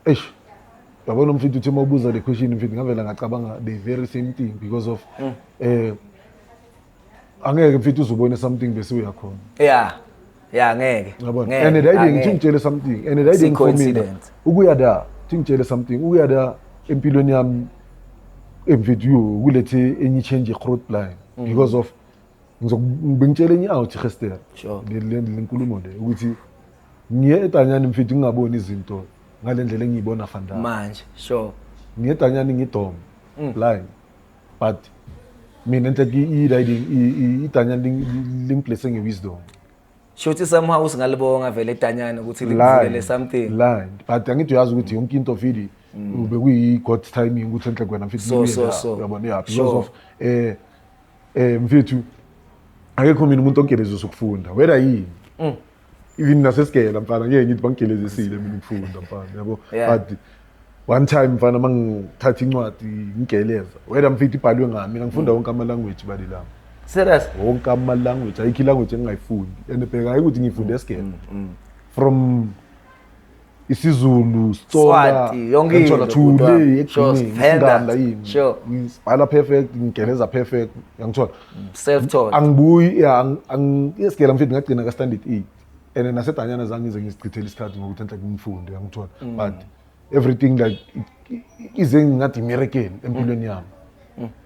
eish yabona umfithu uthi uma ubuza le question mfithu ngavela ngacabanga the very same thing because of mm. eh angeke mfethu uzobona something bese uyakhona yeah yeah ngeke yabona ngeke, and dayide angeke. ngithi ngitshele something and dayide ngifomina coincidence. ukuya da thi ngitshele something ukuya da empilweni yami emvidiyo kulethe enye i-change i-road blind because of ngizoku- bengitshele enye out ihester Sure. le le- le nkulumo le ukuthi ngiye edanyani mfethu ngingaboni izinto ngale ndlela engiyibona fandana manje sure ngiye edanyani ngidom blind but mina ntle ke e riding i tanya link blessing nge wisdom shothi somehow usingalibonga vele tanyana ukuthi likuvulele something line but angithi uyazi ukuthi yonke into vidi mm. ube kuyi god timing ukuthi enhle kwena mfethu so so so uyabona yeah because of eh eh mfethu akekho mina umuntu onkelezwe sokufunda whether yini mm. even nasesigela mfana ngeke ngithi bangigelezisile mina ukufunda mfana yabo Yeah. but one time mfana mangithatha incwadi ngigeleza whether mfitha ibhalwe ngami mina ngifunda wonke ama language bali lami serious wonke ama language ayikho i language engingayifundi and bheka hayi ukuthi ngifunde esigela from isiZulu, Sitsonga, Swati, yonke into, ngithola bhuti thule wami. Sure, ekugcineni Venda. isinganda yini. Sure. Ngibhala perfect, ngigeleza perfect, yangithola. self taught Angibuyi yeah ang- ang isigela mfethu ngagcina ka standard 8. And then nasedanyana zange ngize ngizichithele isikhathi ngokuthi enhle kumfundo yangithola. Mm. But everything like i- i- ize ngathi miracle empilweni yami.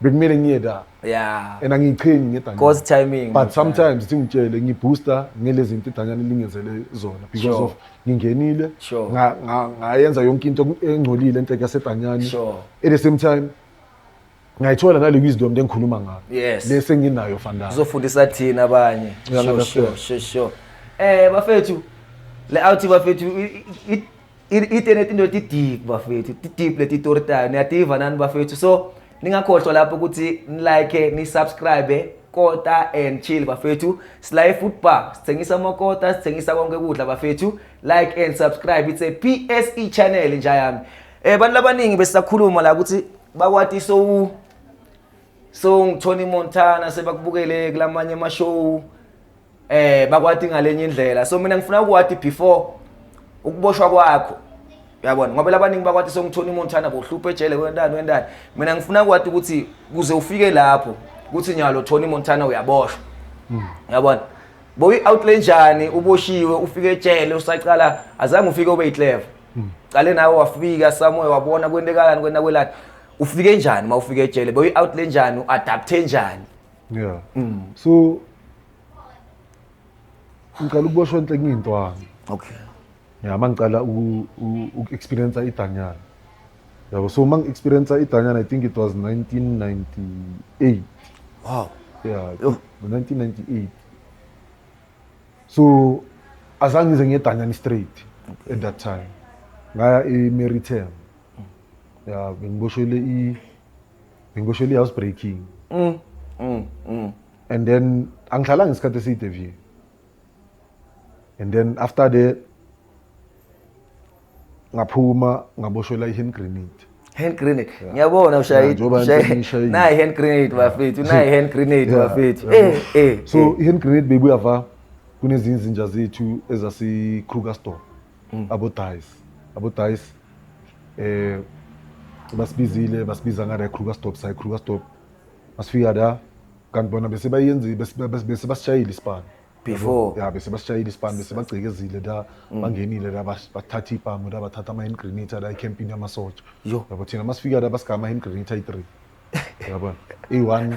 bekumele ngiye da yeah and angiyiqhenyi ngedanyana cause timing but sometimes thi ngitshele ngibooster ngelezi zinto idanyana lingenzele zona because sure. of ngingenile sure. ngayenza nga, nga yonke into engcolile enhleke yasedanyani sure. at the same time ngayithola nale wisdom lengikhuluma ngayo yes. le senginayo fandana uzofundisa thina abanye sure, sure, sure, sure. eh bafethu le out bafethu itene tinto ti-deep bafethu ti-deep leti tori tayo niyativa nani bafethu so ningakhohlwa lapho ukuthi nilike nisubscribe kota and chill bafethu sila e-food bar sithengisa amakota sithengisa konke ukudla bafethu like and subscribe it's a pse channel nja yami eh bantu labaningi besisakhuluma la ukuthi bakwati so so ngithoni montana sebakubukele kulamanye ama-show eh bakwati ngalenye indlela so mina ngifuna ukwati before ukuboshwa kwakho uyabona ngoba labaningi bakwati songithola umuntu thana bohlupha ejele kwentana wentana mina ngifuna ukwati ukuthi kuze ufike lapho kuthi nyalo Tony Montana uyaboshwa hmm. uyabona boyi outlay njani uboshiwe ufike ejele usaqala azange ufike ube iclever hmm. qale nawe wafika somewhere wabona kwentekalani kwena kwelani ufike njani uma ufike ejele boyi outlay njani uadapte njani yeah mm. so ngicela ukuboshwa enhle ngiyintwana okay ya mangicela uku-experiensa idanyana yabo so uma ngi-experiensa idanyana i think it was 1998 wow yeah 1998 so azange ngize ngiyedanyana straight okay. at that time ngaya e-meritem ya bengiboshwele i bengiboshele i-house breaking mm, mm, mm. and then angihlalanga isikhathi eside vye and then after the ngaphuma ngaboshelwa i-hand grenade hand grenade ngiyabona ushayidi nayi hand grenade bafethu nayi hand grenade bafethu eh eh so eh. i-hand grenade bebuya va kunezinye izinja zethu ezasi-krugersdorp Mm. abodayisi abodayisi eh basibizile basibiza ngale Kruger stop sayi Kruger stop masifika la kanti bona bese bayenzi bese bese- bese basishayile ispan Before. ya bese basishayile ispan bese bagcekezile la Mm. bangenile la bas- bathatha ipamu la bathatha ama hand grenade la ecampini yamasotsha Yo. yabo thina masifika la basigama hand grenade ayi 3 yabona i1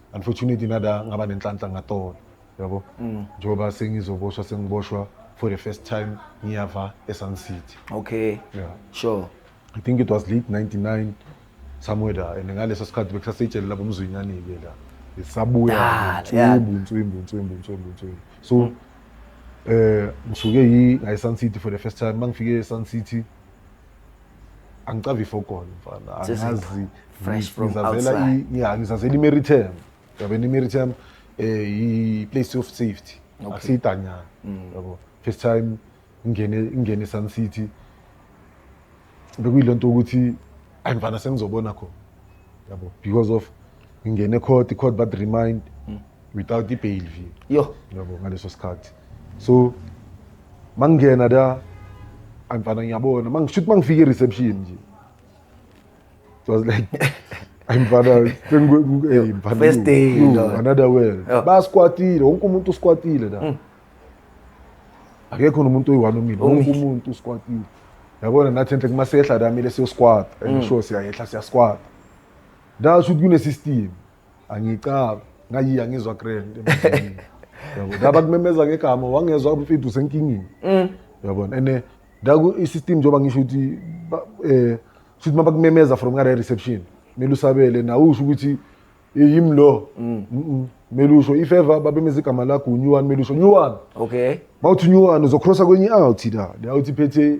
unfortunately nada ngaba nenhlanhla ngatolo yabo mm. njengoba sengizoboshwa sengiboshwa for the first time ngiyava esun city okay yeah. sure i think it was late 99 somewhere there and ngaleso sikhathi bekusaseyitshele lapho umzwinyanile la sabuya ntswimbu ntswimbu ntswimbu ntswimbu ntswimbu so mm. eh ngisuke yi ngayisun city for the first time mangifike esun city angicavifo kona mfana angazi fresh from outside yeah ngizazela imeritem yabe imeritem eh i place of safety akusiyidanyana mm. yabo first time ngene ngene Sun City bekuyilento ukuthi ayimfana sengizobona khona yabo because of ngingene court i-court but remind without i-bail fee yo yabo ngaleso sikhathi so mangingena la angifana ngiyabona mangishuthi mangifika i-reception nje it was like ayimfana sengu- eh, mfana, First you- day, you, no. another world Yeah. basikwatile wonke umuntu usikwatile la akekho nomuntu oyi-one omile wonke Omile. umuntu usikwatile yabona nathi enhle kumasehla la mile siyoskwata and sure siyayehla siyaskwata Ndasho ukuthi kunesystem angicaba ngayi angizwa grand emsebenzini. yabo ngaba kumemeza ngegama wangezwa umfithu senkingini Mm. yabona and eh, ndaku i-system njengoba ngisho ukuthi ba- eh shuthi uma bakumemeza from ngale reception kumele usabele nawe usho ukuthi "Eh, yimi lo Mm, mm, kumele usho if ever babemeza igama lakho unyuwani kumele usho nyuwani Okay. mawuthi unyuwani uzokrosa kwenye i-out la le out iphethe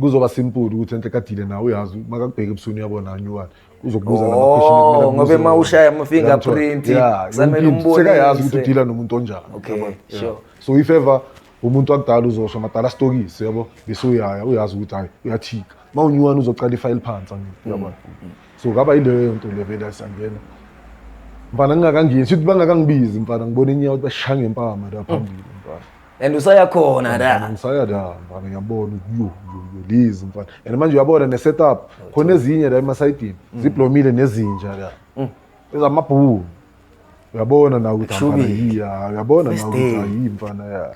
kuzoba simple ukuthi enhle kadile nawe uyazi makakubheka ebusuku uyabona anyuwani uzokubuza la question ekumele oh, ngoba uma ushaya ama fingerprint samele umbone sekayazi ukuthi udila nomuntu onjani okay sure so if ever umuntu akudala uzosho madala stokisi yabo bese uyaya uyazi ukuthi hayi uyathika uma unyuwani uzoqala ifayile phansi yabona mm, mm. so kaba yileyo nto le vele asangena mfana ngingakangeni sithi bangakangibizi mfana ngibona inyawo ukuthi bashaya ngempama la phambili mfana and usaya khona la ngisaya la mfana ngiyabona yo yo yo lizi mfana and manje uyabona ne setup khona ezinye la emasayidini mm. ziblomile nezinja la mm. ezamabhulu uyabona na ukuthi mfana yiya uyabona na ukuthi ayi mfana ya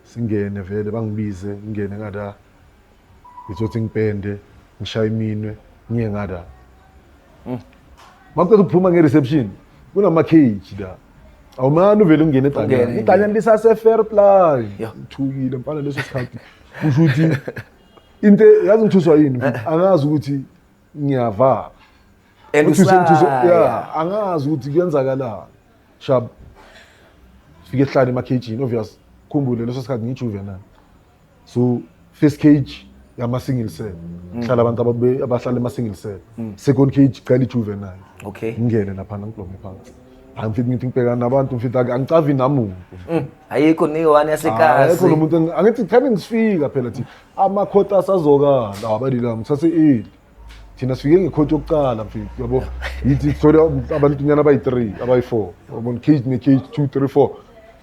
singene vele bangibize ngingene ngada ngizothi ngipende ngishaye iminwe ngiye ngada mm. makucela ukuphuma nge-reception kunama-cage la awumane uvele ungene egcanyana igcanyana lisase-fair play ngithukile mfana leso sikhathi kusho ukuthi into yazi ngithuswa yini eh. angazi ukuthi ngiyavala ya angazi ukuthi kuyenzakalani shab fike ehlale emakhejini obvious khumbule leso sikhathi ngiyijuvenile so first cage yama single cell mm. hlala abantu ababe abahlala ema single cell mm. second cage cela ijuvenile okay ngingene lapha ngibloke phansi hayi mfethu ngithi ngibhekana nabantu mfethu angicavi namuntu mm. ayikho ni one yasekhaya ayikho lo muntu angithi thani ngisifika phela thi amakhota asazokala abalila mthase eli thina sifike ngekhoti yokuqala mfethu yabo yithi sithole abantunyana abayi-three abayi-four yabona cage ne-cage two three four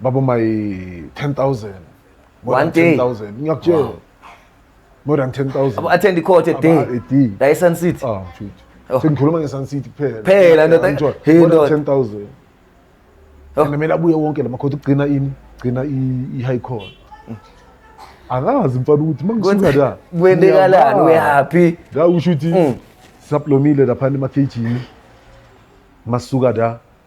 Babo my 10000. More One than day. 10000. Ngiyakutshela. More than 10000. Abo attend i-court a day. Aba- a day. La eSun City. Ah, mfethu. Oh. Sengikhuluma ngeSun City kuphela. Phela, ndoda. Yeah, enjoy. Hey, More than ndoda. 10000. Oh. And kumele abuye wonke lama court ukugcina ini? Gcina i i- high court. Akazi mfana ukuthi mangisuka la. Kwendekalani? We're happy. La usho ukuthi Mm. saplomile lapha ema KG. Masuka la.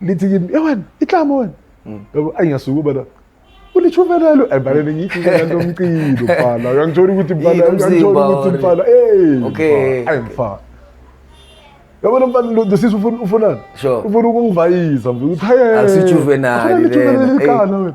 lithi kimi e wena itlamo wena mm. yabo ayi ngiyasuka ubala ulichuvelelo ayibhalele ngithi ngikanto umcilo bhala uyangithola ukuthi bhala uyangithola ukuthi bhala eh okay ayi mfana yabo lo mfana lo sisi ufuna ufunani ufuna ukungivayisa mfana ukuthi hayi akusijuvenali lena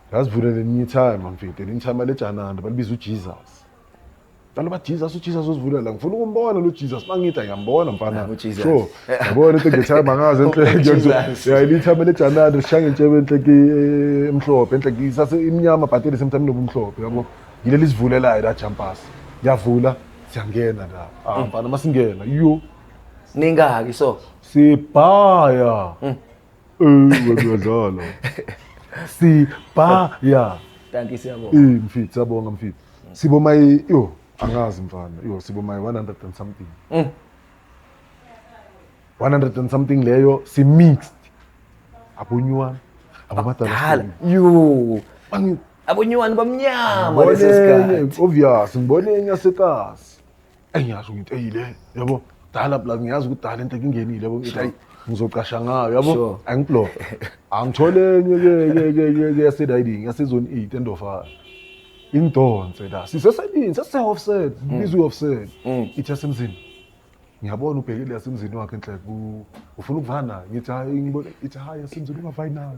Ngazivula lelinye ithayima mfethu, elinye ithayima lejananda balibiza uJesus. Balo ba Jesus uJesus uzivula la. Ngifuna ukumbona lo Jesus mangithi ayambona mfana. Naku Jesus. Sure. Yabona into ngethayima ngaze enhle Oh, nje. Jesus. Yeah, elinye ithayima lejananda lishanga intshebe enhle ki eh, emhlophe, enhle ki sase imnyama but at the same time nobumhlophe yabo. Yileli sivulelayo la jumpers. Yavula siyangena la. Ah mfana masingena. Yo ningaki so sibhaya uyadlala sibhaya thank you siyabonga eh mfit siyabonga mfit sibo my yo angazi mfana yo sibo my 100 and something mm. 100 and something leyo si mixed abonywana abadala yo abonywana bamnyama leso sikhathi obvious ngibone enye sekasi eyi ngiyazi umuntu eyile yabo dala plus ngiyazi ukuthi dala into ekungenile yabo ngithi ayi ngizocasha ngayo yabo Sure. angiblock angithole enye ke ke ke ke ke yaseriding yasezone 8 endofana ingidonse la siseselini sesise-offset bizwa i-offset ithi yasemzini ngiyabona ubhekile yasemzini wakhe enhle ku- ufuna ukuvana nayo ngithi hayi ngibona ithi hayi yasemzini ungavayi nayo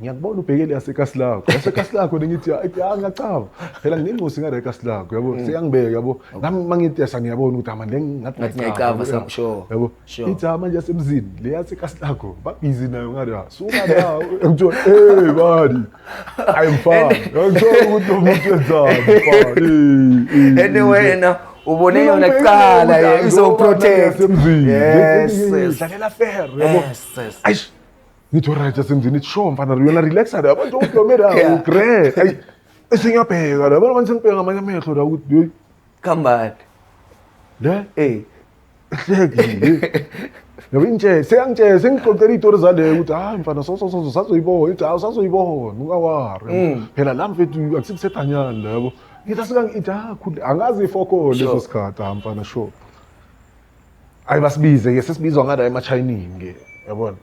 ngiyakubona ubhekele yasekasi lakho yasekasi lakho nengithi ya ngiyacaba phela nginencosi ngale kasi lakho yabo mm. seyangibeka yabo nami uma ngithi yasa ngiyabona ukuthi ama le ngathi ngiyacaba sure yabo ithi ama ah, nje yasemzini le yasekasi lakho babhizi nayo ngale ha ah, suka la ngithiwa hey bani i'm fine ngithola ukuthi lo muntu wenzani fine anyway wena ubone yona kuqala izoprotect yes dlalela fair yabo yes yes ngithi right asemzini ithi sure mfana yona relax la abantu udomera ugre ayi esingiyabheka la abantu sengibheka ngamanye amehlo la ukuthi hey kambani le eh ehlekile yabo intshe seyangitshe sengixoxela izitori zaleyo ukuthi hayi mfana so so so sazoyibona ithi hayi sazoyibona ungawari mm. phela la mfethu akusikusethanyana labo ngithi asikangiti ha khulu angazi ifoko leso sikhathi ha mfana sure ayi basibize ke sesibizwa ngala emachayinini ke yabona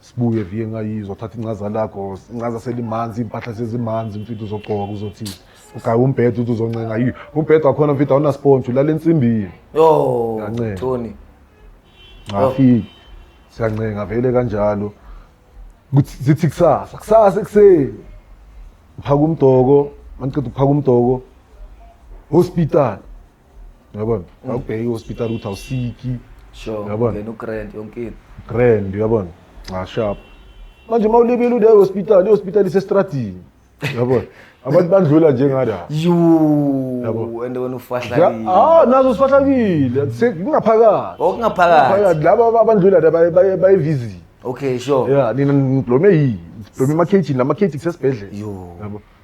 Sibuye vie ngayizwa thatha incaza lakho incaza selimanzi impahla sezimanzi mfithu uzogqoka uzothi ugaye umbhedo uthi uzoncenga yi umbhedo wakhona mfithu awuna sponge ulala ensimbini yo Ngiyancela. Tony ngafiki siyancenga vele kanjalo kuthi zithi kusasa kusasa ekuseni uphaka umdoko mangiqeda ukuphaka umdoko hospital yabona mm. awubheke ihospital ukuthi awusiki sure yabona ngena ugrand yonkini grand yabona ah sharp manje uma ulibile ude hospital ihospital isestradini yabona abantu bandlula njengala yabo and wena ufahlakile ah nazo usifahlakile kungaphakathi okungaphakathi laba abandlula baye visit okay sure yeah nina ngiblome yini ngiblome ama cage nama cage kusesibhedlela yabo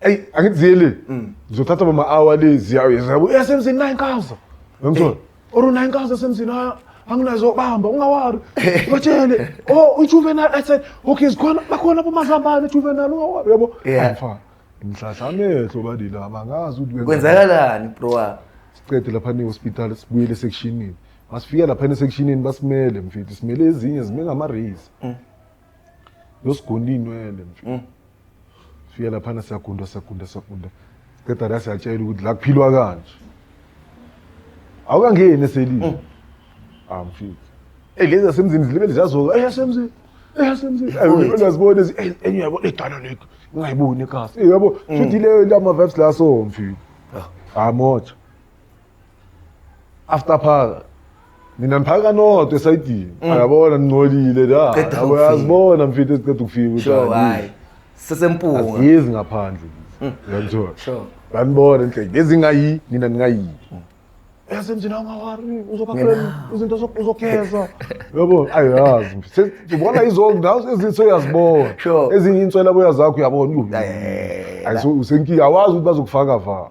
eyi angithi ziye le mm. zizothatha bama hour le ziyayezabu esemzini nayi nkaza ngimthola or unayi nkaza esemzini anginazo bamba ungawari batshele oh ujuvenal i said okay zikhona bakhona abomazambane ujuvenal ungawari yabo angifani ngihlahla amehlo badila abangazi ukuthi kwenzakalani bro wami siqede lapha ne-hospital sibuyele esekshinini masifika lapha esekishinini basimele mfethu simele ezinye zime ngama-race mm. yosigona iy'nwele mfethu mm. Fika laphana siyagunda siyagunda siyagunda. Qeda la siyatshela ukuthi la kuphilwa kanje. Awukangeni eselini. Mm. Ah mfiki. Eh lezi asemzini zilibe lizazoka. Eh asemzini. Eh asemzini. Uyazibona ezi eh, enye yabo edala lekho. Ungayiboni kasi. Eh yabo mm. futhi le lama vibes la so mfiki. Ah, ah moja. after phaka nina niphaka nodwa esayidini mm. ayabona ningcolile la yabo yazibona mfethu eziceda ukufika ukuthi sure hayi sesempunga asizi ngaphandle mm. uyangithola sure banibona inhleke bezingayi nina ningayi mm. yasemzini awungawari uzobafrend izinto uzogeza yabo ayazi mfethu ubona izonke nazo ezinso uyazibona ezinye inswela boya zakho uyabona usenkinga awazi ukuthi bazokufaka va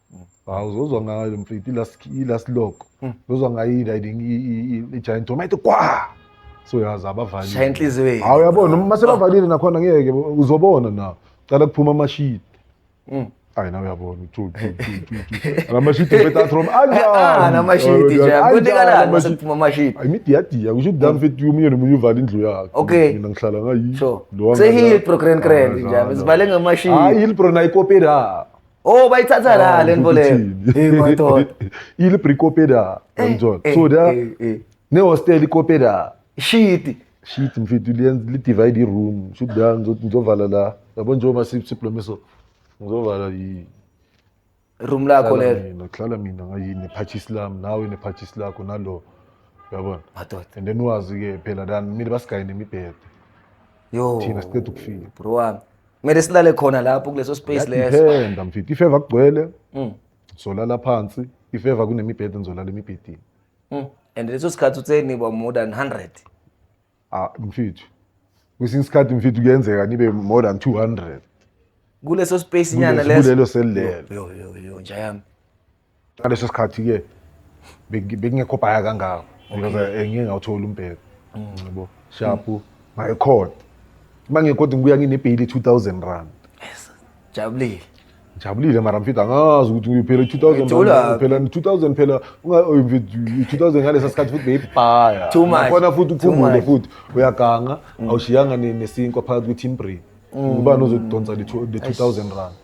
hawu uzozwa ngayo mfethu i-last i-last log Mm. uzozwa ngayo i-riding i- i- i- i-giant drum ayithi kwa so yazi shaya abavalile inhliziyo yethu hawu yabona uma sebavalile nakhona ngeke bo- uzobona na cala kuphuma amashidi Mm. ayi nawe uyabona amashidi betatrom Ah, namashidi nje kunekalani mase kuphuma amashidi imidiyadiya kusho ukuthi la mfethu omunye nomunye uvala indlu yakhe Mm. Okay. mina ngihlala ngayi so sehilpro grand grand nje sivale ngamashidi hayi ilbro nayikopera Oh bayithatha ah, la lento leyo. Eh madoda. Ile brikopeda eh, ngizona. Eh, so da eh, ne hostel ikopeda. Shit. Shit mfethu liyenza li divide i room. Shit da ngizovala la. Yabo njengoba siplome so. Ngizovala i room lakho lelo. Mina hlala mina ngayini purchase lami nawe ne purchase lakho nalo. Yabona. Madoda. And then wazi ke phela dan mina basigayine imibhede. Yo. Thina siqeda ukufika. Bro wami. kumele silale khona lapho kuleso space leso Ngiyadependa mfethu if ever kugcwele Mm. solala phansi if ever kunemibhede ngizolala emibhedeni. Mm. and leso sikhathi uthe niba more than 100 Ah mfethu. Kwesinye isikhathi mfethu kuyenzeka nibe more than 200. kuleso space nyana Kulesi- leso kulelo selelo. Yo, yo, yo, yo, nja yami ngaleso sikhathi-ke bengi- bengingekho bhaya kangako because eh, ngike ngawuthola umbheko yabo shapu ngayikhona uma ngikodwa ngibuya nginebheyili i-two thousand rand jabulile ngijabulile mara mfethu angazi ukuthi ngiyophela i-two thousand Ngijula. phela ni-two thousand phela unga- oy, mfethu, i-two thousand ngalesa sikhathi futhi beyibhaya Too much. khona futhi Too uphumule much. Mm. futhi uyaganga awushiyanga ne- nesinkwa phakathi kwe-team brain ubani ozodonsa le two- le-two thousand rand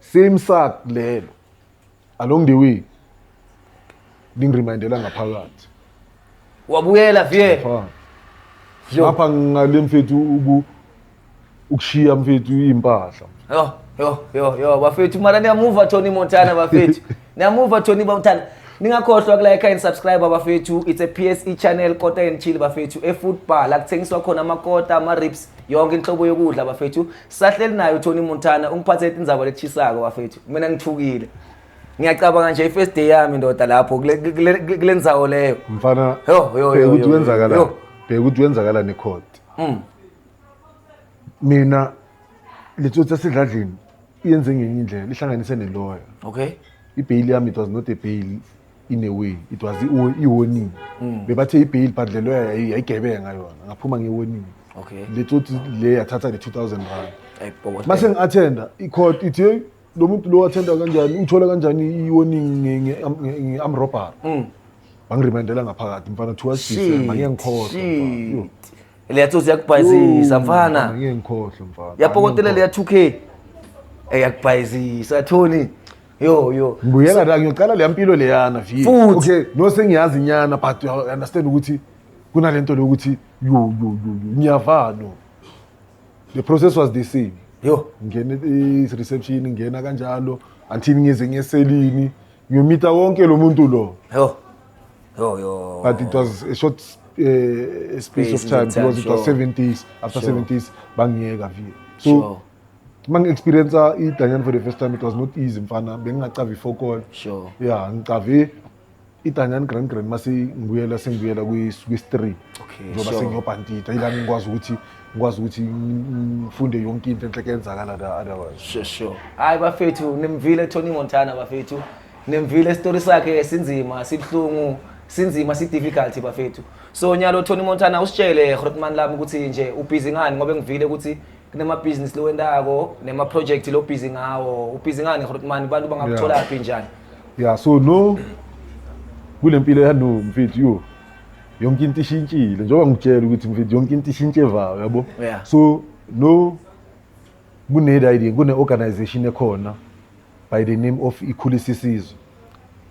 same sak lelo along the way lingiremindela ngaphakathi wabuyela vie Ngapha- Yo. ngapha ngale mfethu uku- ukushiya mfethu iy'mpahla yo yo yo yo bafethu mara niyamuva tony montana bafethu niyamuva tony montana ningakhohlwa kulayikha and subscribe bafethu it's a pse channel kota and chill bafethu efootball akuthengiswa khona amakota ama-rips yonke inhlobo yokudla bafethu sahleli naye uTony Montana ungiphathe itindzaba lechisako bafethu mina ngithukile ngiyacabanga nje i-first day yami ndoda lapho kule- kule kule ndzawo leyo mfana Yo, yo, yo, bheka ukuthi yo, kwenzakala yo. bheka ukuthi kwenzakala necourt Mm. mina letsotsi esidladlini iyenze ngenye indlela ihlanganise neloya okay ibheyili yami it was not a bail in a way it was i- i-warning Mm. bebathe ibheyili but lelo yayi- yayigebenga yona ngaphuma nge-warning Okay. le tsotsi le yathatha ne-two thousand rand Ay, bhokotela. uma sengi-athenda i-court ithi heyi lo muntu lo athenda kanjani uthola kanjani i-warning nge-amrobbery Mm. bangirimendela ngaphakathi mfana kuthiwa sidisema ngeke ngikhohlwe Shit. mfana. leya tsotsi yakubhayizisa Yo, mfana ngeke ngikhohlwe mfana yapokotela leya 2k eyakubhayizisa tony yo yo ngibuyela la ngiyocala leya mpilo leyana vi Futhi. okay no sengiyazi nyana but you understand ukuthi kunalento lokuthi yo yo yo yo, ngiyavalo the process was the same yo ngene i- reception ngena kanjalo until ngize ngeselini ngiyomita wonke lo muntu lo yo yo yo but it was a short uh, space of Space time in time, because it was sure. seven days after Sure. seven days bangiyeka vi so Sure. uma ngi-experienca idanyane for the first time it was not easy mfana bengingacavi ifokol sure ya ngicave idanyane grand grand mase ngibuyela sengibuyela kwi-stream okay njengoba sure sengiyobhantida ila ngikwazi ukuthi ngikwazi ukuthi ngifunde yonke into enhle kuyenzakala la otherwise sure sure hayi bafethu nimvile Tony Montana bafethu nimvile story sakhe sinzima sibuhlungu sinzima si difficult bafethu so nyalo Tony Montana usitshele Grootman lami ukuthi nje ubhizi ngani ngoba ngivile ukuthi kunemabhizinisi lowendako nemaprojekthi lobhizi ngawo ubhizi ngani rotmani abantu bangakutholaphi njani ya so no kule mpilo yano mfethu yo yonke into ishintshile njengoba ngikutshela ukuthi mfethu yonke into ishintshe evayo yabo Yeah. so no kune-riding kune-organization ekhona by the name of ikhulisa isizwe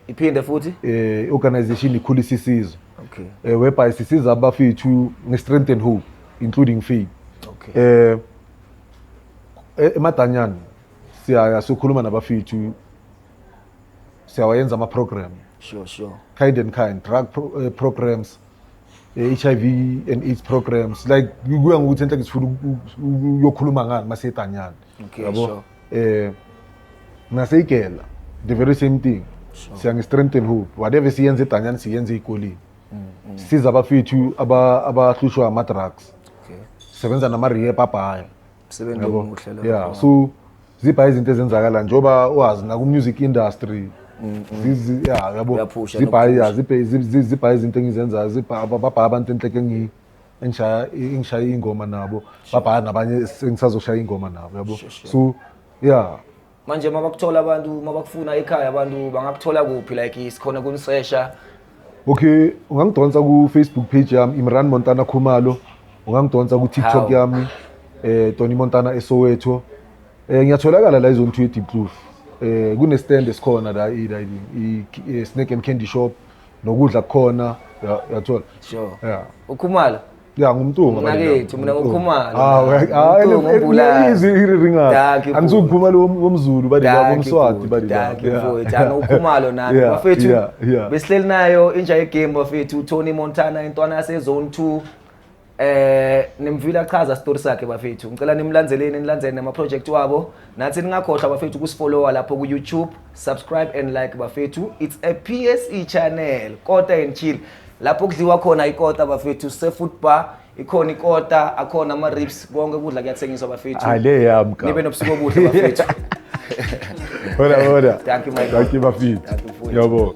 iphinde futhi eh organization ikhulisa isizwe okay eh whereby sisiza abafethu nge strength and hope including faith okay eh e-, emadanyana siyaya sokhuluma nabafethu siyawayenza ama program sure sure kind and kind drug pro, uh, programs eh, HIV and AIDS programs like kuya ngokuthi enhle ngifuna uyokhuluma ngani masetanyana Okay, yabo sure. eh naseyigela the very same thing siya nge-strengthen hope whatever siyenza edanyani siyenza ey'koleni siza abafethu aba- abahlushwa ama-drugs Okay. sebenza nama-rehab abhaya Msebenzi Yabo? omuhle lo. yeah so zibha izinto ezenzakala njengoba wazi naku-music industry zizi- yeah, yabo Uyaphusha zibha nokuphusha. yeah, zibhe- zi- zi- zibha izinto engizenzayo zibha- babha abantu enhleke engiyi engishaya engishaya ingoma nabo babhala nabanye sengisazoshaya ingoma nabo yabo so yeah manje uma bakuthola abantu uma bakufuna ekhaya abantu bangakuthola kuphi like sikhona kunisesha okay ungangidonsa ku-facebook page yami imran montana khumalo ungangidonsa ku-tiktok yami eh tony montana esowetho eh ngiyatholakala la izone two edipcloof eh kunestand esikhona la i-snake and candy shop nokudla kukhona ya- uyathola Sure. Yeah. Ukhumalo. ya ngumtunga Mina bani kethu, na? mina Ngumtunga. ngukhumalo. Ah, we- Ngumtunga, ah, ele- ele- umbulali. izwi iriringayo. Dankie, Angisuye futhi. ukhumalo wom- womzulu bani na, Dankie womswati futhi, bani na. dankie Yeah. futhi. Ana ukhumalo nami Yeah, bafethu. yeah, yeah. Besihleli nayo inja yegame bafethu Tony Montana intwana yase zone 2. Eh nimvile achaza story sakhe bafethu. Ngicela nimlandeleni nilandzele nama project wabo. Nathi ningakhohlwa bafethu kusifollowa lapho ku YouTube, subscribe and like bafethu. It's a PSE channel. Kota and chill. Lapho kudliwa khona ikota bafethu se food bar ikhona ikota akhona ama ribs konke kudla kuyathengiswa bafethu. Hayi le yami ka. Nibe nobusuku obuhle bafethu. Hola hola. Thank you my. Thank you bafethu. Yabo.